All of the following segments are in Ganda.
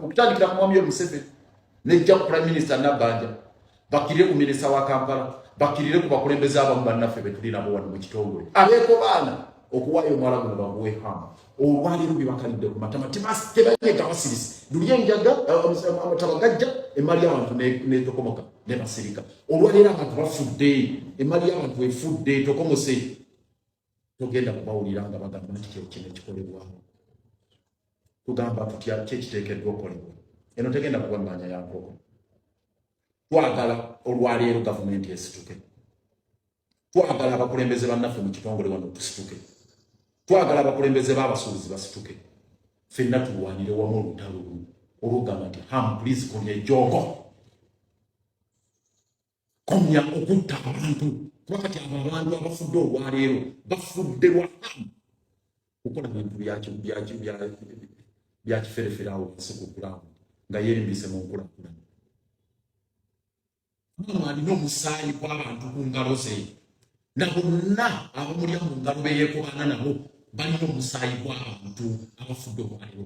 okutandikira ku mwami Museveni nejja ku prime minister Nabbanja bakirire ku minisita wa Kampala bakirire ku bakulembeze abamu bannaffe betulinamu wano mu kitongole abeeko baana okuwaayo omwala guno baguwe hama olwaleero byebakalidde ku matama tebayega basirisi luli enjaga amataba gajja emali y'abantu netokomoka nebasirika olwaleero abantu bafudde emali y'abantu efudde etokomose togenda kubawulira nga bagamba nti kyekino ekikolebwawo tugamba tutya kyekiteekeddwa okolebwa eno tegenda kuba maanya ya nkoko twagala olwaleero gavumenti esituke twagala abakulembeze bannaffe mu kitongole wano tusituke twagala abakulembeze b'abasuubuzi basituke fenna tulwanire wamu olutalo olugamba nti ham please konya ejoogo komya okutta abantu kuba kati abo abantu abafudde olwaleero bafudde lwa hamu kukola bintu byakiferefere awo wansi ku kulaamu nga yeerimbise mu nkulakulana hamu alina omusaayi gw'abantu ku ngalo ze na bonna abamulya mu ngalo beyekobaana nabo balina omusaayi gw'abantu abafudde olwaleero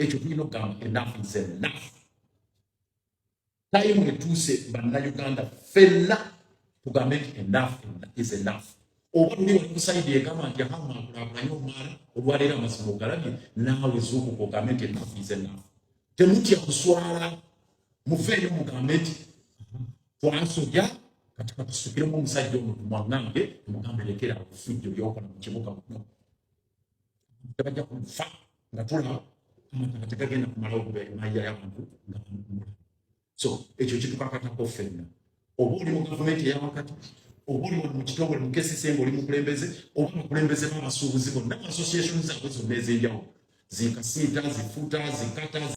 ekyo tulina okugamba enafu ze nafu tayimu etuuse bannayuganda fenna tugambe nti enaf is enaf oba luli wakusayidi egamba nti ahama akulakulanye omwala olwaleero amazima ogalabye naawe zuukuka ogambe nti enaf is enaf temutya kuswala muveeyo mugambe nti twasoja kati katusukiremu omusajja omuntu mwangange mugambe lekera ofujjo lyokola mu kibuga muno bajja kufa nga tulaba amataka tegagenda kumalawo kubeera mayira yabantu nga bamugula so ekyo kitukakatako ffenna oba oli mu gavumenti eyawakati oba oli wano mu kitongole mu kcc nga oli mukulembeze oba abakulembeze b'abasuubuzi bonna association zaabwe zonna ez'enjawulo zikasiita zifuta zikata